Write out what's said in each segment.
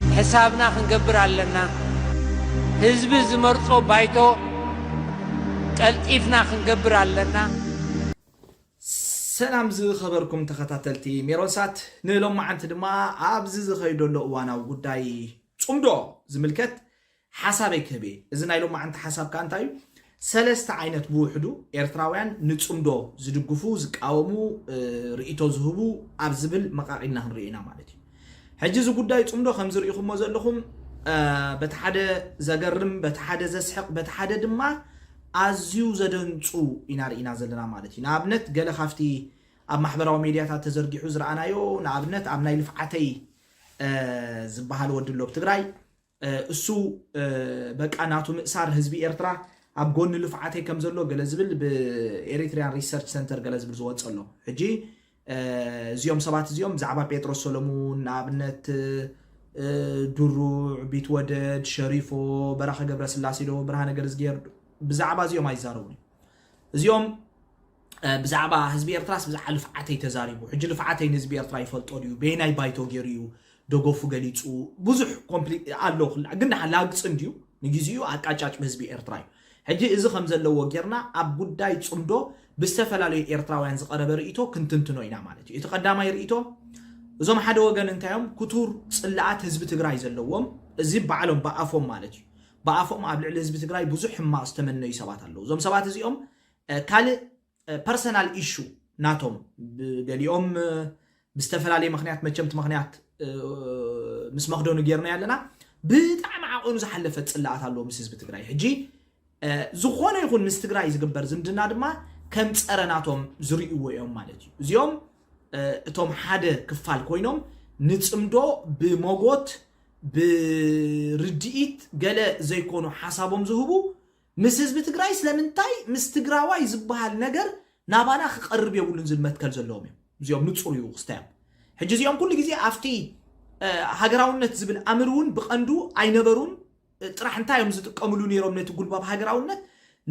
ሕሳብና ክንገብር ኣለና። ህዝቢ ዝመርጾ ባይቶ ቀልጢፍና ክንገብር ኣለና። ሰላም ዝኸበርኩም ተኸታተልቲ ሜሮን ሳት ንሎማዓንቲ ድማ ኣብዚ ዝኸይደሎ እዋናዊ ጉዳይ ጹምዶ ዝምልከት ሓሳበይ ክህብ እየ። እዚ ናይ ሎማዓንቲ ሓሳብ ከኣ እንታይ እዩ፣ ሰለስተ ዓይነት ብውሕዱ ኤርትራውያን ንጽምዶ ዝድግፉ፣ ዝቃወሙ፣ ርእይቶ ዝህቡ ኣብ ዝብል መቓቒልና ክንሪኦ ኢና ማለት እዩ። ሕጂ እዚ ጉዳይ ጽምዶ ከምዚ ርኢኹሞ ዘለኹም በቲ ሓደ ዘገርም፣ በቲ ሓደ ዘስሕቕ፣ በቲ ሓደ ድማ ኣዝዩ ዘደንጹ ኢና ርኢና ዘለና ማለት እዩ። ንኣብነት ገለ ካብቲ ኣብ ማሕበራዊ ሜድያታት ተዘርጊሑ ዝረኣናዮ ንኣብነት ኣብ ናይ ልፍዓተይ ዝበሃል ወዲ ኣሎ ኣብ ትግራይ እሱ በቃ ናቱ ምእሳር ህዝቢ ኤርትራ ኣብ ጎኒ ልፍዓተይ ከም ዘሎ ገለ ዝብል ብኤሪትሪያን ሪሰርች ሰንተር ገለ ዝብል ዝወፅ ኣሎ ሕጂ እዚኦም ሰባት እዚኦም ብዛዕባ ጴጥሮስ ሰለሙን ንኣብነት ድሩዕ ቢትወደድ ሸሪፎ በራኸ ገብረስላሴ ዶ ብርሃነ ገርዝጌር ብዛዕባ እዚኦም ኣይዛረቡን እዚኦም ብዛዕባ ህዝቢ ኤርትራስ ብዛዕባ ልፍዓተይ ተዛሪቡ ሕጂ ልፍዓተይ ንህዝቢ ኤርትራ ይፈልጦ ድዩ በየናይ ባይቶ ገይሩ እዩ ደገፉ ገሊጹ ብዙሕ ኮምፕሊት ኣሎ ክላ ግን ድሓ ላግጽ እንድዩ ንግዜኡ ኣቃጫጭ ብህዝቢ ኤርትራ እዩ ሕጂ እዚ ከም ዘለዎ ጌርና ኣብ ጉዳይ ጽምዶ ብዝተፈላለዩ ኤርትራውያን ዝቐረበ ርእቶ ክንትንትኖ ኢና ማለት እዩ እቲ ቀዳማይ ርእቶ እዞም ሓደ ወገን እንታዮም ክቱር ጽላኣት ህዝቢ ትግራይ ዘለዎም እዚ ባዕሎም ብኣፎም ማለት እዩ ብኣፎም ኣብ ልዕሊ ህዝቢ ትግራይ ብዙሕ ሕማቕ ዝተመነዩ ሰባት ኣለዉ። እዞም ሰባት እዚኦም ካልእ ፐርሰናል ኢሹ ናቶም ገሊኦም ብዝተፈላለየ ምክንያት መቸም እቲ ምክንያት ምስ መክደኑ ጌርና ኣለና ብጣዕሚ ዓቐኑ ዝሓለፈ ፅላኣት ኣለዎ ምስ ህዝቢ ትግራይ ሕጂ ዝኾነ ይኹን ምስ ትግራይ ዝግበር ዝምድና ድማ ከም ፀረ ናቶም ዝርእይዎ እዮም ማለት እዩ እዚኦም እቶም ሓደ ክፋል ኮይኖም ንፅምዶ ብመጎት ብርድኢት ገለ ዘይኮኑ ሓሳቦም ዝህቡ ምስ ህዝቢ ትግራይ ስለምንታይ ምስ ትግራዋይ ዝበሃል ነገር ናባና ክቐርብ የብሉን ዝብል መትከል ዘለዎም እዮም እዚኦም ንፁር እዩ ክስታዮም ሕጂ እዚኦም ኩሉ ግዜ ኣብቲ ሃገራውነት ዝብል ኣምር እውን ብቐንዱ ኣይነበሩን ጥራሕ እንታይ እዮም ዝጥቀምሉ ነይሮም ነቲ ጉልባብ ሃገራውነት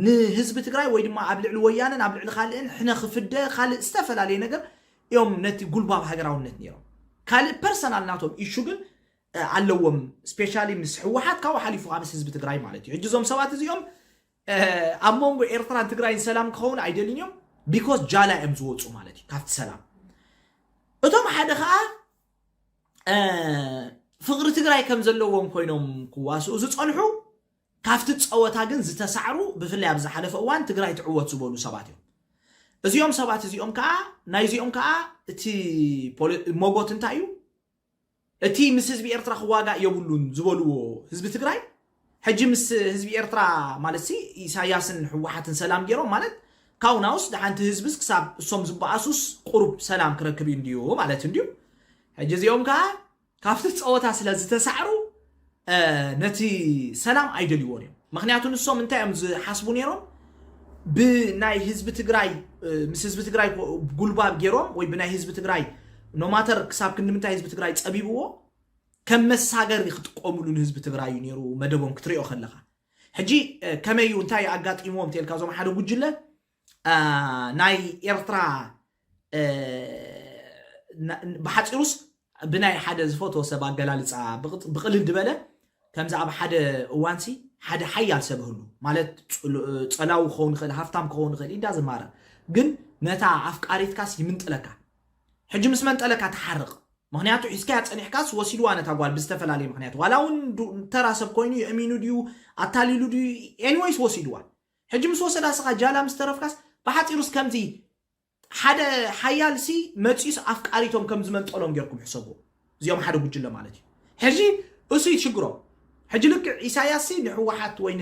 ንህዝቢ ትግራይ ወይ ድማ ኣብ ልዕሊ ወያነን ኣብ ልዕሊ ካልእን ሕነ ክፍደ ካልእ ዝተፈላለየ ነገር እዮም ነቲ ጉልባብ ሃገራውነት ነይሮም ካልእ ፐርሰናል ናቶም ኢሹ ግን ኣለዎም ስፔሻሊ ምስ ህወሓት ካብኡ ሓሊፉ ምስ ህዝቢ ትግራይ ማለት እዩ ሕጂ እዞም ሰባት እዚኦም ኣብ መንጎ ኤርትራን ትግራይን ሰላም ክኸውን ኣይደልን እዮም ቢኮስ ጃላ እዮም ዝወፁ ማለት እዩ ካብቲ ሰላም እቶም ሓደ ከዓ ፍቕሪ ትግራይ ከም ዘለዎም ኮይኖም ክዋስኡ ዝፀንሑ ካብቲ ፀወታ ግን ዝተሳዕሩ ብፍላይ ኣብ ዝሓለፈ እዋን ትግራይ ትዕወት ዝበሉ ሰባት እዮም። እዚኦም ሰባት እዚኦም ከዓ ናይዚኦም ከዓ እቲ ሞጎት እንታይ እዩ እቲ ምስ ህዝቢ ኤርትራ ክዋጋእ የብሉን ዝበልዎ ህዝቢ ትግራይ ሕጂ ምስ ህዝቢ ኤርትራ ማለት ሲ ኢሳያስን ህወሓትን ሰላም ገይሮም ማለት ካብኡ ናውስ ድሓንቲ ህዝብስ ክሳብ እሶም ዝበኣሱስ ቁሩብ ሰላም ክረክብ እዩ እንድዩ ማለት እንድዩ ሕጂ እዚኦም ከዓ ካብቲ ፀወታ ስለ ዝተሳዕሩ ነቲ ሰላም ኣይደልይዎን እዮም ምክንያቱ ንሶም እንታይ እዮም ዝሓስቡ ነይሮም ብናይ ህዝቢ ትግራይ ምስ ህዝቢ ትግራይ ጉልባብ ገይሮም ወይ ብናይ ህዝቢ ትግራይ ኖማተር ክሳብ ክንምንታይ ህዝቢ ትግራይ ፀቢብዎ ከም መሳገሪ ክጥቀምሉ ንህዝቢ ትግራይ እዩ ነይሩ መደቦም ክትሪኦ ከለካ ሕጂ ከመይ እዩ እንታይ ኣጋጢሞም ተልካ እዞም ሓደ ጉጅለ ናይ ኤርትራ ብሓፂሩስ ብናይ ሓደ ዝፈትዎ ሰብ ኣገላልፃ ብቕልል ድበለ ከምዚ ኣብ ሓደ እዋንሲ ሓደ ሓያል ሰብ ህሉ ማለት ፀላዊ ክኸውን ይኽእል ሃፍታም ክኸውን ይኽእል ኢዳ ዝማረ ግን ነታ ኣፍቃሪትካስ ይምንጥለካ ሕጂ ምስ መንጠለካ ተሓርቕ ምክንያቱ ሒዝካያ ፀኒሕካስ ወሲድዋ ነታ ጓል ብዝተፈላለየ ምክንያት ዋላ እውን ተራ ሰብ ኮይኑ የእሚኑ ድዩ ኣታሊሉ ድዩ ኤኒወይስ ወሲድዋ ሕጂ ምስ ወሰዳ ስኻ ጃላ ምስ ተረፍካስ ብሓጺሩስ ከምዚ ሓደ ሓያል ሲ መጺኡስ ኣፍቃሪቶም ከም ዝመንጠሎም ጌርኩም ሕሰብዎ እዚኦም ሓደ ጉጅለ ማለት እዩ ሕጂ እሱ እዩ ሽግሮም ሕጂ ልክዕ ኢሳያስ ሲ ንሕወሓት ወይ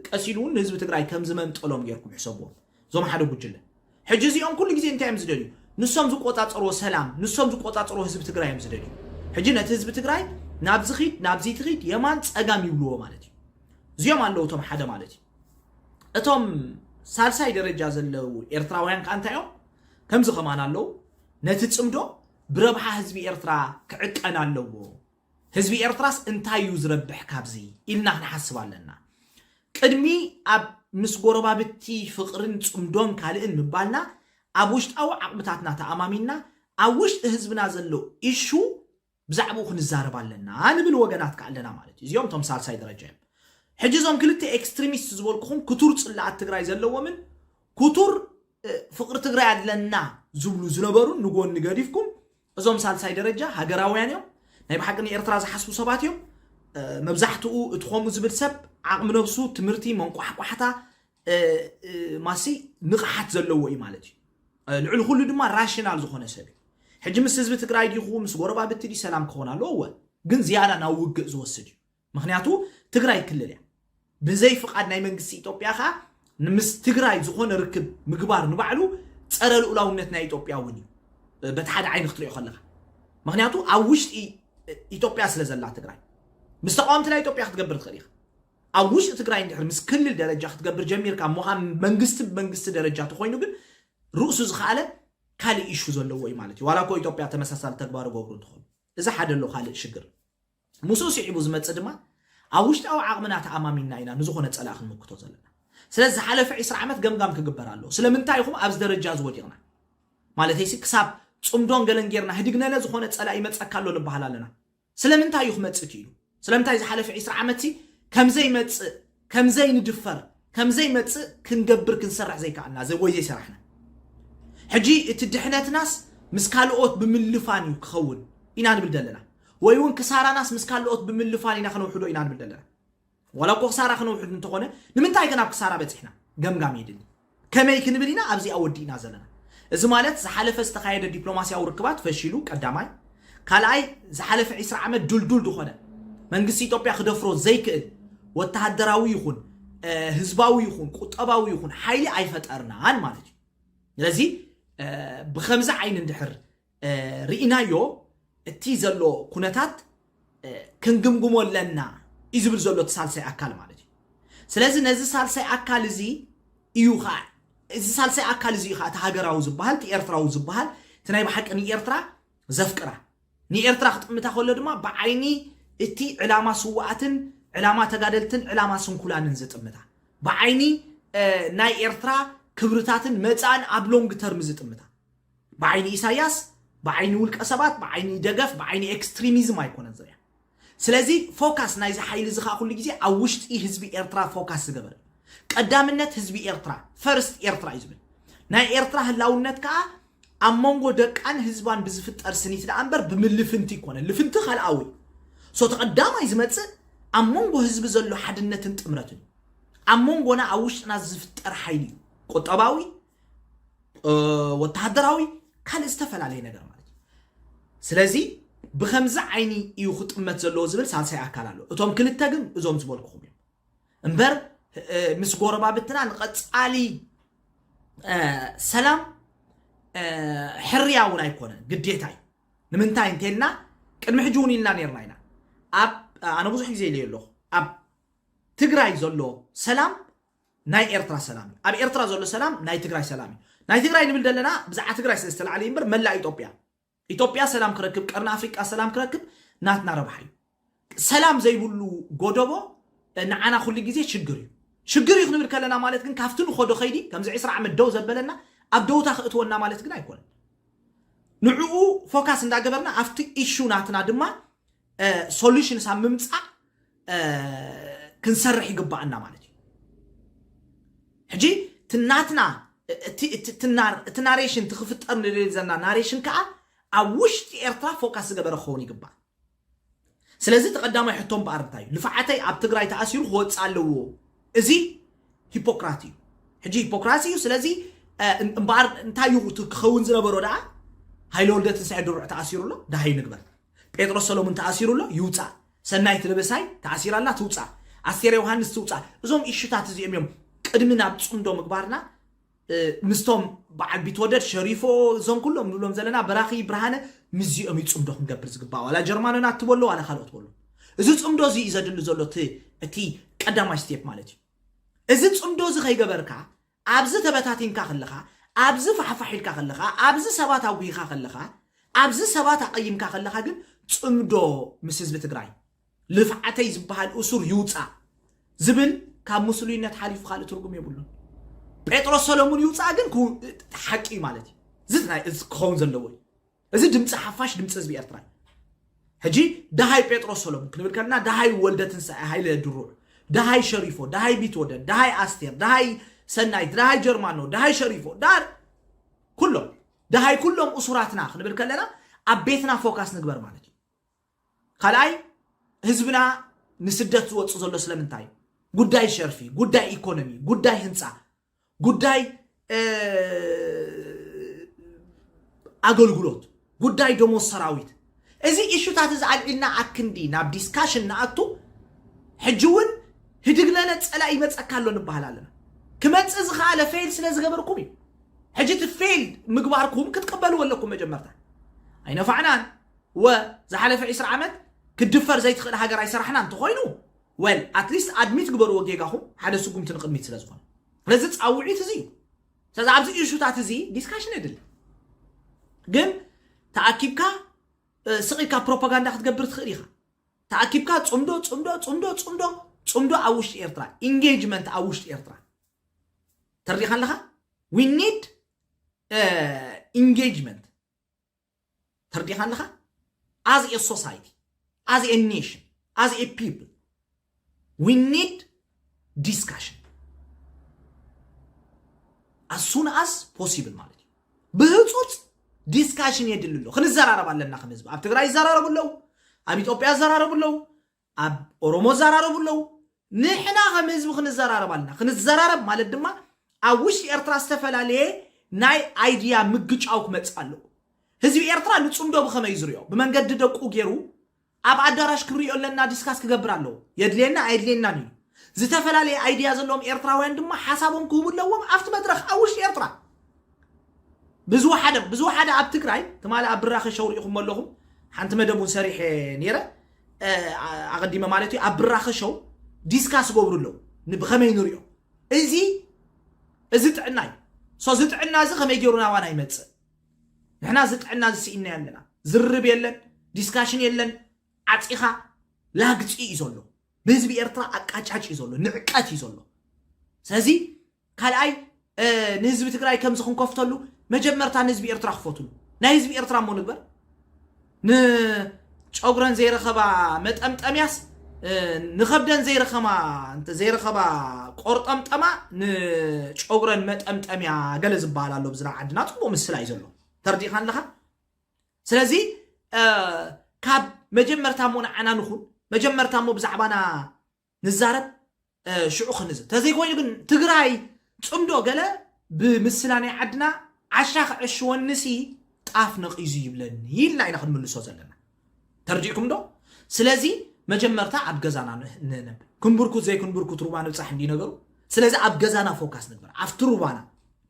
ቀሲሉ እውን ንህዝቢ ትግራይ ከም ዝመንጠሎም ጌርኩም ሕሰብዎ እዞም ሓደ ጉጅለ ሕጂ እዚኦም ኩሉ ግዜ እንታይ እዮም ዝደልዩ ንሶም ዝቆጻጸርዎ ሰላም ንሶም ዝቆጻጸርዎ ህዝቢ ትግራይ እዮም ዝደልዩ ሕጂ ነቲ ህዝቢ ትግራይ ናብዚ ኺድ ናብዚ ትኺድ የማን ጸጋም ይብልዎ ማለት እዩ እዚኦም ኣለዉ እቶም ሓደ ማለት እዩ እቶም ሳልሳይ ደረጃ ዘለዉ ኤርትራውያን ከ እንታይ እዮም ከምዚ ከማን ኣለዉ ነቲ ጽምዶ ብረብሓ ህዝቢ ኤርትራ ክዕቀን ኣለዎ ህዝቢ ኤርትራስ እንታይ እዩ ዝረብሕ ካብዚ ኢልና ክንሓስብ ኣለና ቅድሚ ኣብ ምስ ጎረባብቲ ፍቕርን ጽምዶን ካልእን ምባልና ኣብ ውሽጣዊ ዓቕምታትና ተኣማሚንና ኣብ ውሽጢ ህዝብና ዘሎ ኢሹ ብዛዕብኡ ክንዛረብ ኣለና ንብል ወገናት ከኣ ኣለና ማለት እዩ። እዚኦም እቶም ሳልሳይ ደረጃ እዮም። ሕጂ እዞም ክልተ ኤክስትሪሚስት ዝበልኩኹም ክቱር ጽላኣት ትግራይ ዘለዎምን ክቱር ፍቕሪ ትግራይ ኣለና ዝብሉ ዝነበሩን ንጎኒ ገዲፍኩም እዞም ሳልሳይ ደረጃ ሃገራውያን እዮም ናይ ብሓቂ ንኤርትራ ዝሓስቡ ሰባት እዮም መብዛሕትኡ እቲ ከምኡ ዝብል ሰብ ዓቕሚ ነብሱ ትምህርቲ መንቋሕቋሕታ ማሲ ንቕሓት ዘለዎ እዩ ማለት እዩ ልዕሊ ኩሉ ድማ ራሽናል ዝኾነ ሰብ እዩ ሕጂ ምስ ህዝቢ ትግራይ ዲኹ ምስ ጎረባብቲ ዲ ሰላም ክኸውን ኣለዎ እወ ግን ዝያዳ ናብ ውግእ ዝወስድ እዩ ምክንያቱ ትግራይ ክልል እያ ብዘይ ፍቓድ ናይ መንግስቲ ኢትዮጵያ ከዓ ምስ ትግራይ ዝኾነ ርክብ ምግባር ንባዕሉ ፀረ ልኡላውነት ናይ ኢትዮጵያ እውን እዩ በቲ ሓደ ዓይኒ ክትሪኦ ከለካ ምክንያቱ ኣብ ውሽጢ ኢትዮጵያ ስለ ዘላ ትግራይ ምስ ተቃወምቲ ናይ ኢትዮጵያ ክትገብር ትኽእል ኢኻ ኣብ ውሽጢ ትግራይ እንድሕር ምስ ክልል ደረጃ ክትገብር ጀሚርካ ምዃን መንግስቲ ብመንግስቲ ደረጃ ተኾይኑ ግን ርእሱ ዝኸኣለ ካልእ ኢሹ ዘለዎ እዩ ማለት እዩ ዋላ እኮ ኢትዮጵያ ተመሳሳሊ ተግባር ገብሩ እንትኾኑ እዚ ሓደ ኣሎ ካልእ ሽግር ምስኡ ስዒቡ ዝመፅእ ድማ ኣብ ውሽጣዊ ዓቕምና ተኣማሚንና ኢና ንዝኾነ ፀላእ ክንምክቶ ዘለና ስለዚ ዝሓለፈ 20 ዓመት ገምጋም ክግበር ኣለዎ ስለምንታይ ኢኹም ኣብዚ ደረጃ እዚ ወዲቕና ማለተይሲ ክሳብ ፅምዶን ገለን ጌርና ህድግነለ ዝኾነ ፀላእ ይመፀካ ኣሎ ንበሃል ኣለና ስለምንታይ እዩ ክመጽእ ክኢሉ? ስለምንታይ ዝሓለፈ ዕስራ ዓመትሲ ከም ዘይመጽእ፣ ከም ዘይንድፈር፣ ከም ዘይመጽእ ክንገብር ክንሰርሕ ዘይከኣልና ዘ ወይ ዘይሰራሕና? ሕጂ እቲ ድሕነትናስ ምስ ካልኦት ብምልፋን እዩ ክኸውን ኢና ንብል ዘለና ወይውን ክሳራናስ ምስ ካልኦት ብምልፋን ኢና ክነውሕዶ ኢና ንብል ዘለና? ዋላ እኮ ክሳራ ክነውሕድ እንተኾነ ንምንታይ ግን ኣብ ክሳራ በፂሕና ገምጋም የድሊ ከመይ ክንብል ኢና ኣብዚኣ ወዲእና ዘለና እዚ ማለት ዝሓለፈ ዝተኻየደ ዲፕሎማስያዊ ርክባት ፈሺሉ ቀዳማይ ካልኣይ ዝሓለፈ 20 ዓመት ድልዱል ዝኾነ መንግስቲ ኢትዮጵያ ክደፍሮ ዘይክእል ወተሃደራዊ ይኹን ህዝባዊ ይኹን ቁጠባዊ ይኹን ሓይሊ ኣይፈጠርናን ማለት እዩ ስለዚ ብከምዚ ዓይኒ እንድሕር ርኢናዮ እቲ ዘሎ ኩነታት ክንግምግሞ ኣለና እዩ ዝብል ዘሎ እቲ ሳልሳይ ኣካል ማለት እዩ ስለዚ ነዚ ሳልሳይ ኣካል እዚ እዩ ከዓ እዚ ሳልሳይ ኣካል እዚ እዩ ከዓ እቲ ሃገራዊ ዝበሃል እቲ ኤርትራዊ ዝበሃል እቲ ናይ ብሓቂ ንኤርትራ ዘፍቅራ ንኤርትራ ክጥምታ ከሎ ድማ ብዓይኒ እቲ ዕላማ ስዋኣትን ዕላማ ተጋደልትን ዕላማ ስንኩላንን ዝጥምታ ብዓይኒ ናይ ኤርትራ ክብርታትን መፃእን ኣብ ሎንግ ተርም ዝጥምታ ብዓይኒ ኢሳያስ ብዓይኒ ውልቀ ሰባት ብዓይኒ ደገፍ ብዓይኒ ኤክስትሪሚዝም ኣይኮነን ዝርያ ስለዚ ፎካስ ናይዚ ሓይሊ እዚ ከዓ ኩሉ ግዜ ኣብ ውሽጢ ህዝቢ ኤርትራ ፎካስ ዝገበር እዩ ቀዳምነት ህዝቢ ኤርትራ ፈርስት ኤርትራ እዩ ዝብል ናይ ኤርትራ ህላውነት ከዓ ኣብ መንጎ ደቃን ህዝባን ብዝፍጠር ስኒት ደኣ እምበር ብምልፍንቲ ይኮነ ልፍንቲ ካልኣዊ ሶ ተቐዳማይ ዝመፅእ ኣብ መንጎ ህዝቢ ዘሎ ሓድነትን ጥምረትን እዩ ኣብ መንጎና ኣብ ውሽጥና ዝፍጠር ሓይሊ እዩ ቁጠባዊ ወተሃደራዊ ካልእ ዝተፈላለየ ነገር ማለት እዩ ስለዚ ብከምዚ ዓይኒ እዩ ክጥመት ዘለዎ ዝብል ሳልሳይ ኣካል ኣሎ እቶም ክልተ ግን እዞም ዝበልኩኹም እዮም እምበር ምስ ጎረባብትና ንቐፃሊ ሰላም ሕርያ እውን ኣይኮነን ግዴታ እዩ ንምንታይ እንተልና ቅድሚ ሕጂ እውን ኢልና ነርና ኢና ኣብ ኣነ ብዙሕ ግዜ ኢለዮ ኣለኹ ኣብ ትግራይ ዘሎ ሰላም ናይ ኤርትራ ሰላም እዩ ኣብ ኤርትራ ዘሎ ሰላም ናይ ትግራይ ሰላም እዩ ናይ ትግራይ ንብል ዘለና ብዛዕባ ትግራይ ስለ ዝተላዕለ እምበር መላእ ኢትዮጵያ ኢትዮጵያ ሰላም ክረክብ ቀርኒ ኣፍሪቃ ሰላም ክረክብ ናትና ረብሓ እዩ ሰላም ዘይብሉ ጎደቦ ንዓና ኩሉ ግዜ ሽግር እዩ ሽግር እዩ ክንብል ከለና ማለት ግን ካብቲ ንኸዶ ከይዲ ከምዚ ዕስራ ዓመት ደው ዘበለና ኣብ ደውታ ክእትወና ማለት ግን ኣይኮነን ንዕኡ ፎካስ እንዳገበርና ኣብቲ ኢሹ ናትና ድማ ሶሉሽንስ ኣብ ምምፃእ ክንሰርሕ ይግባኣና ማለት እዩ ሕጂ እቲ ናትና እቲ ናሬሽን እቲ ክፍጠር ንደልዮ ዘለና ናሬሽን ከዓ ኣብ ውሽጢ ኤርትራ ፎካስ ዝገበረ ክኸውን ይግባእ ስለዚ እቲ ቀዳማይ ሕቶ እምበኣር እንታይ እዩ ልፍዓተይ ኣብ ትግራይ ተኣሲሩ ክወፅእ ኣለዎ እዚ ሂፖክራት እዩ ሕጂ ሂፖክራሲ እዩ ስለዚ እምበኣር እንታይ እዩ እቲ ክኸውን ዝነበሮ ደኣ ሃይለ ወልደ ትንሳኤ ድሩዕ ተኣሲሩ ኣሎ ደሃዩ ንግበር ጴጥሮስ ሰሎሙን ተኣሲሩ ኣሎ ይውፃእ፣ ሰናይት ደበሳይ ተኣሲራ ኣላ ትውፃእ፣ ኣስቴር ዮሃንስ ትውፃእ። እዞም ኢሹታት እዚኦም እዮም ቅድሚ ናብ ፅምዶ ምግባርና ምስቶም በዓል ቢትወደድ ሸሪፎ እዞም ኩሎም ንብሎም ዘለና በራኺ ብርሃነ ምስዚኦም እዩ ፅምዶ ክንገብር ዝግባእ ዋላ ጀርማኖና እትበሎ ዋላ ካልኦት በሎ እዚ ፅምዶ እዚ እዩ ዘድሊ ዘሎ እቲ ቀዳማይ ስቴፕ ማለት እዩ እዚ ፅምዶ እዚ ከይገበርካ ኣብዚ ተበታቲንካ ከለኻ፣ ኣብዚ ፋሕፋሕ ኢልካ ከለኻ፣ ኣብዚ ሰባት ኣጉሂኻ ከለኻ፣ ኣብዚ ሰባት ኣቐይምካ ከለኻ ግን ፅምዶ ምስ ህዝቢ ትግራይ ልፍዓተይ ዝበሃል እሱር ይውፃእ ዝብል ካብ ምስሉይነት ሓሊፉ ካልእ ትርጉም የብሉን። ጴጥሮስ ሰለሙን ይውፃእ ግን ሓቂ እዩ ማለት እዩ። እዚ ክኸውን ዘለዎ እዩ። እዚ ድምፂ ሓፋሽ ድምፂ ህዝቢ ኤርትራ እዩ ሕጂ ደሃይ ጴጥሮስ ሰሎሙን ክንብል ከለና ደሃይ ወልደ ትንሳኤ ሃይለ ድሩዕ ደሃይ ሸሪፎ ደሃይ ቢትወደድ ደሃይ ኣስቴር ደሃይ ሰናይት ደሃይ ጀርማኖ ደሃይ ሸሪፎ ዳር ኩሎም ደሃይ ኩሎም እሱራትና ክንብል ከለና ኣብ ቤትና ፎካስ ንግበር ማለት እዩ ካልኣይ ህዝብና ንስደት ዝወፅእ ዘሎ ስለምንታይ እዩ ጉዳይ ሸርፊ ጉዳይ ኢኮኖሚ ጉዳይ ህንፃ ጉዳይ ኣገልግሎት፣ ጉዳይ ደሞዝ ሰራዊት እዚ ኢሹታት እዚ ኣልዒልና ኣብ ክንዲ ናብ ዲስካሽን ንኣቱ ሕጂ እውን ህድግለለ ፀላእ ይመፀካ ኣሎ ንበሃል ኣለና ክመፅእ ዝኸኣለ ፌል ስለ ዝገበርኩም እዩ ሕጂ እቲ ፌል ምግባርኩም ክትቅበልዎ ኣለኩም መጀመርታ ኣይነፋዕናን ወ ዝሓለፈ 20 ዓመት ክድፈር ዘይትኽእል ሃገር ኣይሰራሕና እንተኾይኑ ዌል ኣትሊስት ኣድሚት ግበርዎ ጌጋኹም ሓደ ስጉምቲ ንቕድሚት ስለ ዝኾነ ስለዚ ፃውዒት እዚ እዩ ስለዚ ኣብዚ ኢሹታት እዚ ዲስካሽን የድሊ ግን ተኣኪብካ ስቕ ኢልካ ፕሮፓጋንዳ ክትገብር ትኽእል ኢኻ ተኣኪብካ ፅምዶ ፅምዶ ፅምዶ ፅምዶ ፅምዶ ኣብ ውሽጢ ኤርትራ ኢንጌጅመንት ኣብ ውሽጢ ኤርትራ ተሪኻ ኣለኻ ዊ ኒድ ኢንጌጅመንት ተርዲኻ ኣለኻ ኣዝ ኤ ሶሳይቲ ኣዝ ኤ ኔሽን ኣዝ ኤ ፒፕል ዊ ኒድ ዲስካሽን ኣሱን ኣስ ፖሲብል ማለት እዩ ብህፁፅ ዲስካሽን የድሊ ኣሎ ክንዘራረብ ኣለና ከም ህዝቢ ኣብ ትግራይ ይዘራረቡ ኣለዉ ኣብ ኢትዮጵያ ይዘራረቡ ኣለዉ ኣብ ኦሮሞ እዛራረቡ ኣለዉ ንሕና ከም ህዝቢ ክንዘራረብ ኣለና ክንዘራረብ ማለት ድማ ኣብ ውሽጢ ኤርትራ ዝተፈላለየ ናይ ኣይድያ ምግጫው ክመጽእ ኣለዎ ህዝቢ ኤርትራ ንጽምዶ ብኸመይ ዝርዮ ብመንገዲ ደቁ ገይሩ ኣብ ኣዳራሽ ክንሪኦ ኣለና ዲስካስ ክገብር ኣለዎ የድልየና ኣየድልየናን እዩ ዝተፈላለየ ኣይድያ ዘለዎም ኤርትራውያን ድማ ሓሳቦም ክህቡ ኣለዎም ኣብቲ መድረኽ ኣብ ውሽጢ ኤርትራ ብዝወሓደ ብዝወሓደ ኣብ ትግራይ ትማሊ ኣብ ብራኸ ሸው ሪኢኹሞ ኣለኹም ሓንቲ መደብ እውን ሰሪሐ ነይረ ኣቐዲመ ማለት እዩ ኣብ ብራኸ ሸው ዲስካስ ገብሩ ኣለዉ ብኸመይ ንሪኦ እዚ እዚ ጥዕና እዩ ሶ እዚ ጥዕና እዚ ከመይ ገይሩ ናባና ይመፅእ ንሕና እዚ ጥዕና እዚ ስኢና ኣለና ዝርብ የለን ዲስካሽን የለን ዓፂኻ ላግፂ እዩ ዘሎ ብህዝቢ ኤርትራ ኣቃጫጭ እዩ ዘሎ ንዕቀት እዩ ዘሎ ስለዚ ካልኣይ ንህዝቢ ትግራይ ከምዚ ክንከፍተሉ መጀመርታ ንህዝቢ ኤርትራ ክፈትሉ ናይ ህዝቢ ኤርትራ እሞ ንግበር ንጨጉረን ዘይረኸባ መጠምጠምያስ ንኸብደን ዘይረኸማ ዘይረኸባ ቆርጠምጠማ ንጨጉረን መጠምጠምያ ገለ ዝበሃል ኣሎ ብዝና ዓድና ፅቡቅ ምስላ እዩ ዘሎ ተርዲእኻ ኣለኻ ስለዚ ካብ መጀመርታ እሞ ንዓና ንኹን መጀመርታ እሞ ብዛዕባና ንዛረብ ሽዑ ክንዝብ ተዘይኮይኑ ግን ትግራይ ፅምዶ ገለ ብምስላ ናይ ዓድና ዓሻ ክዕሽወኒ ሲ ጣፍ ነቒዙ ይብለኒ ኢልና ኢና ክንምልሶ ዘለና ተርዲእኩም ዶ ስለዚ መጀመርታ ኣብ ገዛና ንነብ ክንብርኩት ዘይክንብርኩት ሩባ ንብፃሕ እንዲ ነገሩ ስለዚ ኣብ ገዛና ፎካስ ንግበር ኣብቲ ሩባና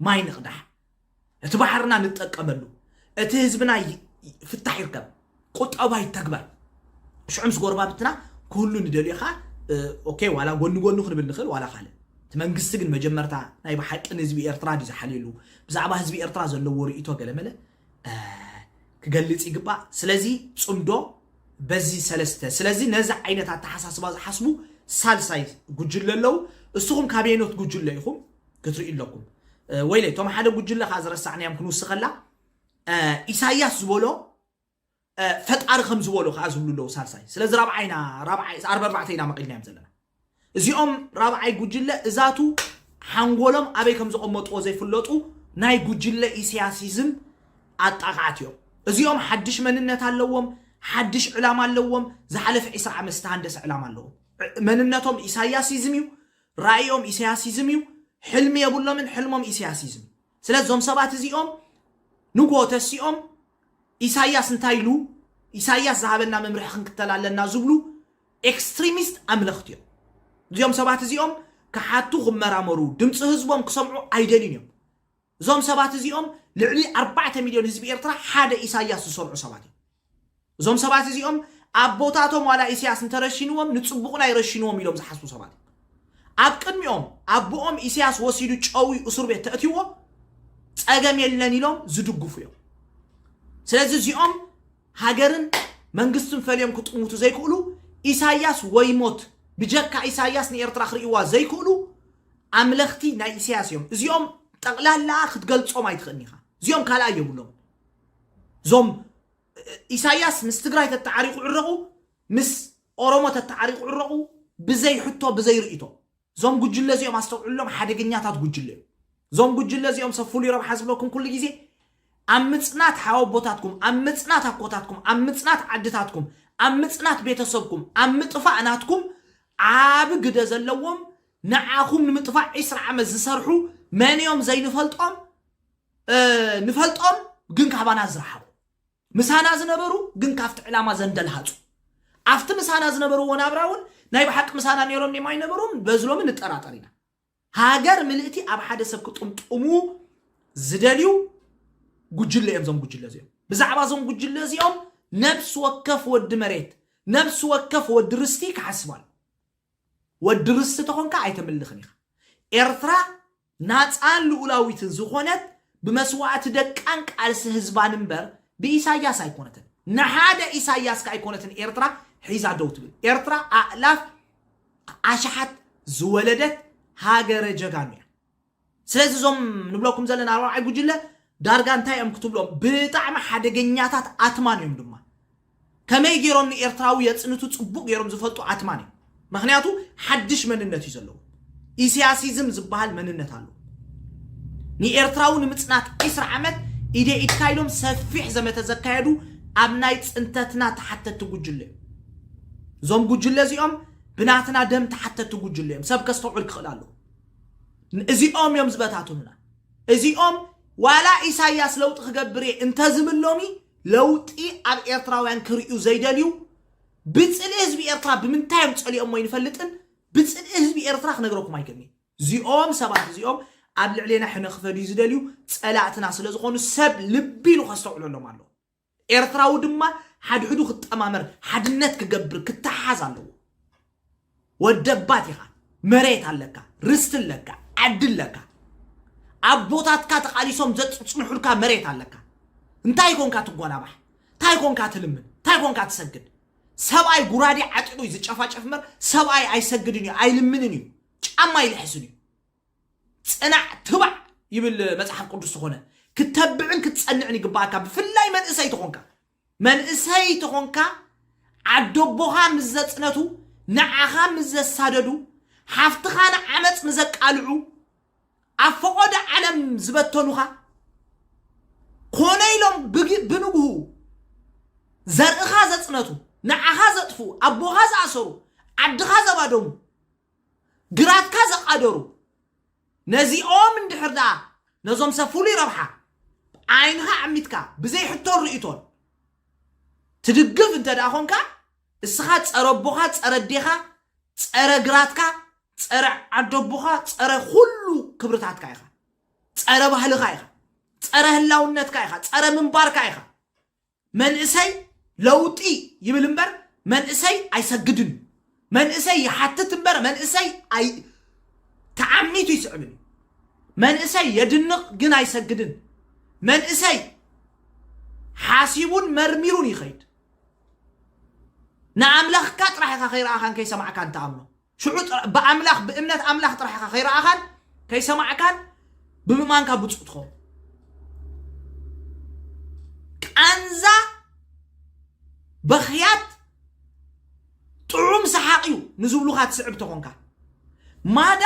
ማይ ንቕዳሕ እቲ ባሕርና ንጠቀመሉ፣ እቲ ህዝብና ፍታሕ ይርከብ፣ ቁጠባ ይተግበር፣ ሽዑ ምስ ጎረባብትና ኩሉ ንደልዮ ከኣ ኦኬ ዋላ ጎኒ ጎኒ ክንብል ንኽእል ዋላ ካልእ እቲ መንግስቲ ግን መጀመርታ ናይ ብሓቂ ንህዝቢ ኤርትራ ድዩ ዝሓልየሉ ብዛዕባ ህዝቢ ኤርትራ ዘለዎ ርእይቶ ገለመለ ክገልጽ ይግባእ ስለዚ ጽምዶ በዚ ሰለስተ ስለዚ ነዚ ዓይነት ኣተሓሳስባ ዝሓስቡ ሳልሳይ ጉጅለ ኣለዉ እስኹም ካበየኖት ጉጅለ ኢኹም ክትርእዩ ኣለኩም ወይለይ እቶም ሓደ ጉጅለ ከዓ ዝረሳዕናዮም ክንውስኸላ ኢሳያስ ዝበሎ ፈጣሪ ከም ዝበሎ ከዓ ዝብሉ ኣለዉ ሳልሳይ ስለዚ ራብዓይና ራብዓይ ዓርቢ ኣርባዕተ ኢና መቒልናዮም ዘለና እዚኦም ራብዓይ ጉጅለ እዛቱ ሓንጎሎም ኣበይ ከም ዘቐመጥዎ ዘይፍለጡ ናይ ጉጅለ ኢሳያሲዝም ኣጣቃዓት እዮም እዚኦም ሓድሽ መንነት ኣለዎም ሓድሽ ዕላማ ኣለዎም ዝሓለፈ 20 ዓመት ዝተሃንደሰ ዕላማ ኣለዎም መንነቶም ኢሳያሲዝም እዩ ራኢኦም ኢሰያሲዝም እዩ ሕልሚ የብሎምን ሕልሞም ኢሰያሲዝም እዩ ስለዚ እዞም ሰባት እዚኦም ንግሆ ተሲኦም ኢሳያስ እንታይ ኢሉ ኢሳያስ ዝሃበና መምርሒ ክንክተል ኣለና ዝብሉ ኤክስትሪሚስት ኣምለኽቲ እዮም እዚኦም ሰባት እዚኦም ክሓቱ ክመራመሩ ድምፂ ህዝቦም ክሰምዑ ኣይደልዩን እዮም እዞም ሰባት እዚኦም ልዕሊ ኣርባዕተ ሚልዮን ህዝቢ ኤርትራ ሓደ ኢሳያስ ዝሰርዑ ሰባት እዮም እዞም ሰባት እዚኦም ኣቦታቶም ዋላ ኢሲያስ እንተረሺንዎም ንጽቡቕና ይረሽንዎም ኢሎም ዝሓስቡ ሰባት እዮም። ኣብ ቅድሚኦም ኣቦኦም ኢሲያስ ወሲዱ ጨውዩ እሱር ቤት ተእትዎ ጸገም የለን ኢሎም ዝድግፉ እዮም። ስለዚ እዚኦም ሃገርን መንግስትን ፈልዮም ክጥምቱ ዘይክእሉ ኢሳያስ ወይ ሞት ብጀካ ኢሳያስ ንኤርትራ ክርእይዋ ዘይክእሉ ኣምለኽቲ ናይ ኢሳያስ እዮም። እዚኦም ጠቕላላ ክትገልጾም ኣይትኽእልን ኢኻ። እዚኦም ካልኣ የብሎም። ዞም ኢሳያስ ምስ ትግራይ ተተዓሪቑ ዕረቑ ምስ ኦሮሞ ተተዓሪቑ ዕረቑ ብዘይ ሕቶ ብዘይ ርእቶ ዞም ጉጅለ እዚኦም ኣስተውዕሎም ሓደገኛታት ጉጅለ እዮም ዞም ጉጅለ እዚኦም ሰብ ፍሉይ ረብሓ ዝብለኩም ኩሉ ግዜ ኣብ ምጽናት ሓወቦታትኩም ኣብ ምጽናት ኣኮታትኩም ኣብ ምጽናት ዓድታትኩም ኣብ ምጽናት ቤተሰብኩም ኣብ ምጥፋእ ናትኩም ዓቢ ግደ ዘለዎም ንዓኹም ንምጥፋእ ዕስራ ዓመት ዝሰርሑ መን እዮም ዘይንፈልጦም ንፈልጦም ግን ካባና ዝረሓቑ ምሳና ዝነበሩ ግን ካብቲ ዕላማ ዘንደልሃጹ ኣብቲ ምሳና ዝነበርዎ ናብራ እውን ናይ ብሓቂ ምሳና ነይሮም ኔም ኣይነበሩም በዝሎሚ ንጠራጠር ኢና ሃገር ምልእቲ ኣብ ሓደ ሰብ ክጥምጥሙ ዝደልዩ ጉጅለ እዮም እዞም ጉጅለ እዚኦም ብዛዕባ እዞም ጉጅለ እዚኦም ነብሲ ወከፍ ወዲ መሬት ነብሲ ወከፍ ወዲ ርስቲ ክሓስባሉ ወዲ ርስቲ ተኾንካ ኣይተምልኽን ኢኻ ኤርትራ ናጻን ልኡላዊትን ዝኾነት ብመስዋእቲ ደቃን ቃልሲ ህዝባን እምበር ብኢሳያስ ኣይኮነትን። ንሓደ ኢሳያስ ከኣ ኣይኮነትን ኤርትራ ሒዛ ደው ትብል። ኤርትራ ኣእላፍ ኣሽሓት ዝወለደት ሃገረ ጀጋኑ እያ። ስለዚ እዞም ንብለኩም ዘለና ኣርባዕይ ጉጅለ ዳርጋ እንታይ እዮም ክትብሎም ብጣዕሚ ሓደገኛታት ኣትማን እዮም ድማ ከመይ ጌሮም ንኤርትራዊ የጽንቱ ጽቡቅ ጌሮም ዝፈልጡ ኣትማን እዮም መክንያቱ ሓድሽ መንነት እዩ ዘለዎም ኢሲያሲዝም ዝበሃል መንነት ኣሎ ንኤርትራዊ ንምጽናት ዒስራ ዓመት ኢደ ኢድካ ኢሎም ሰፊሕ ዘመተ ዘካየዱ ኣብ ናይ ጽንተትና ተሓተቲ ጉጅለ እዮም እዞም ጉጅለ እዚኦም ብናትና ደም ተሓተቲ ጉጅለ እዮም ሰብ ከስተውዕል ክኽእል ኣለዎ እዚኦም እዮም ዝበታትኑና እዚኦም ዋላ ኢሳያስ ለውጢ ክገብር እየ እንተዝብል ሎሚ ለውጢ ኣብ ኤርትራውያን ክርእዩ ዘይደልዩ ብጽልኢ ህዝቢ ኤርትራ ብምንታይ እዮም ጸሊኦሞ ኣይንፈልጥን ብጽልኢ ህዝቢ ኤርትራ ክነግረኩም ኣይክእልን'ዩ እዚኦም ሰባት እዚኦም ኣብ ልዕሌና ሕነ ክፈድዩ ዝደልዩ ጸላእትና ስለ ዝኾኑ ሰብ ልቢ ኢሉ ከስተውዕለሎም ኣለዎ ኤርትራዊ ድማ ሓድሕዱ ክጠማመር ሓድነት ክገብር ክተሓሓዝ ኣለዎ ወደባት ኢኻ መሬት ኣለካ ርስቲ ኣለካ ዓዲ ኣለካ ኣቦታትካ ተቓሊሶም ዘፅፅንሑልካ መሬት ኣለካ እንታይ ኮንካ ትጓናባሕ እንታይ ኮንካ ትልምን እንታይ ኮንካ ትሰግድ ሰብኣይ ጉራዴ ዓጢቑ እዩ ዝጨፋጨፍ እምበር ሰብኣይ ኣይሰግድን እዩ ኣይልምንን እዩ ጫማ ኣይልሕስን እዩ ፅናዕ ትባዕ ይብል መፅሓፍ ቅዱስ ዝኾነ ክተብዕን ክትፀንዕን ይግባኣካ ብፍላይ መንእሰይ ተኾንካ መንእሰይ ተኾንካ ዓደቦኻ ምስ ዘጽነቱ ንዓኻ ምስ ዘሳደዱ ሓፍትኻ ንዓመጽ ንዘቃልዑ ኣብ ፈቖዶ ዓለም ዝበተኑኻ ኮነ ኢሎም ብግ- ብንግሁ ዘርእኻ ዘጽነቱ ንዓኻ ዘጥፍኡ ኣቦኻ ዝኣሰሩ ዓድኻ ዘባደሙ ግራትካ ዘቓደሩ ነዚኦም እንድሕር ደኣ ነዞም ሰብ ፍሉይ ረብሓ ዓይንኻ ኣዕሚትካ ብዘይ ሕቶን ርእይቶን ትድግፍ እንተ ደኣ ኾንካ እስኻ ጸረ ኣቦኻ ጸረ ኣዴኻ ጸረ ግራትካ ጸረ ዓዶ ኣቦኻ ጸረ ኩሉ ክብርታትካ ኢኻ ጸረ ባህልኻ ኢኻ ጸረ ህላውነትካ ኢኻ ጸረ ምንባርካ ኢኻ መንእሰይ ለውጢ ይብል እምበር መንእሰይ ኣይሰግድን እዩ። መንእሰይ ይሓትት እምበር መንእሰይ ኣይ ተዓሚቱ ይስዕብን እዩ። መንእሰይ የድንቕ ግን ኣይሰግድን። መንእሰይ ሓሲቡን መርሚሩን ይኸይድ። ንኣምላኽካ ጥራሕ ኢኻ ከይረኣኻን ከይሰማዕካን ትኣምኖ። ሽዑ ጥራ- ብኣምላኽ ብእምነት ኣምላኽ ጥራሕ ኢኻ ከይረኣኻን ከይሰማዕካን ብምእማንካ ብፁእ ትኸውን ቃንዛ በኽያት ጥዑም ሰሓቕ እዩ ንዝብሉኻ ትስዕብ ተኾንካ ማዳ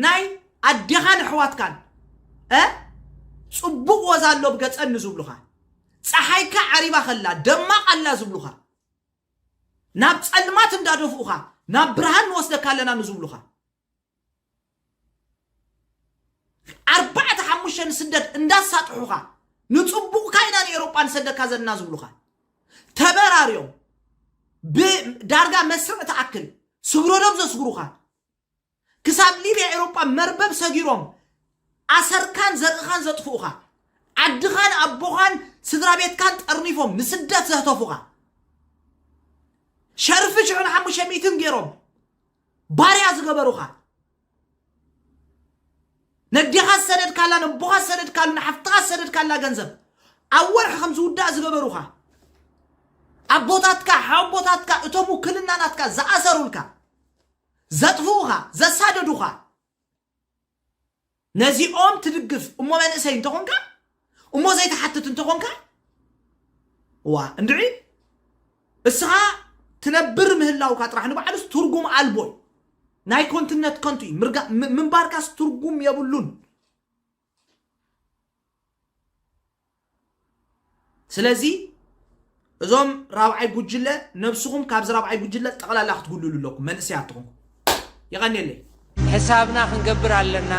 ናይ ኣዴኻን ኣሕዋትካን እ ፅቡቕ ወዛ ኣሎ ብገፀን ንዝብሉኻ ፀሓይካ ዓሪባ ከላ ደማቕ ኣላ ዝብሉኻ ናብ ጸልማት እንዳደፍኡኻ ናብ ብርሃን ንወስደካ ኣለና ንዝብሉኻ ኣርባዕተ ሓሙሽተ ንስደት እንዳሳጥሑኻ ንጽቡቕካ ኢና ንኤሮጳ ንሰደካ ዘለና ዝብሉኻ ተበራርዮም ብዳርጋ መስርዕ ትኣክል ስግረዶብ ዘስግሩኻ ክሳብ ሊብያ ኤሮጳ መርበብ ሰጊሮም ኣሰርካን ዘርእኻን ዘጥፍኡኻ፣ ዓድኻን ኣቦኻን ስድራቤትካን ጠርኒፎም ንስደት ዘህተፉኻ፣ ሸርፊ ሽሕን ሓሙሽተ ሚእትን ጌሮም ባርያ ዝገበሩኻ፣ ነዴኻ ዝሰደድካላ ነቦኻ ዝሰደድካሉ ንሓፍትኻ ዝሰደድካላ ገንዘብ ኣብ ወርሒ ከም ዝውዳእ ዝገበሩኻ ኣቦታትካ ሓቦታትካ እቶም ውክልና ናትካ ዝኣሰሩልካ ዘጥፍኡኻ ዘሳደዱኻ ነዚኦም ትድግፍ እሞ መንእሰይ እንተኾንካ እሞ ዘይትሓትት እንተኾንካ ዋ እንድዒ እስኻ ትነብር ምህላውካ ጥራሕ ንባዕሉስ ትርጉም ኣልቦ እዩ ናይ ኮንትነት ከንቱ እዩ ምንባርካስ ትርጉም የብሉን ስለዚ እዞም ራብዓይ ጉጅለ ነብስኹም ካብዚ ራብዓይ ጉጅለ ጠቕላላ ክትጉልሉ ኣለኩም መንእሰያት ትኹም ይቐኒየለይ ሕሳብና ክንገብር ኣለና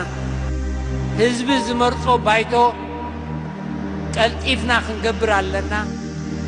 ህዝቢ ዝመርጾ ባይቶ ቀልጢፍና ክንገብር ኣለና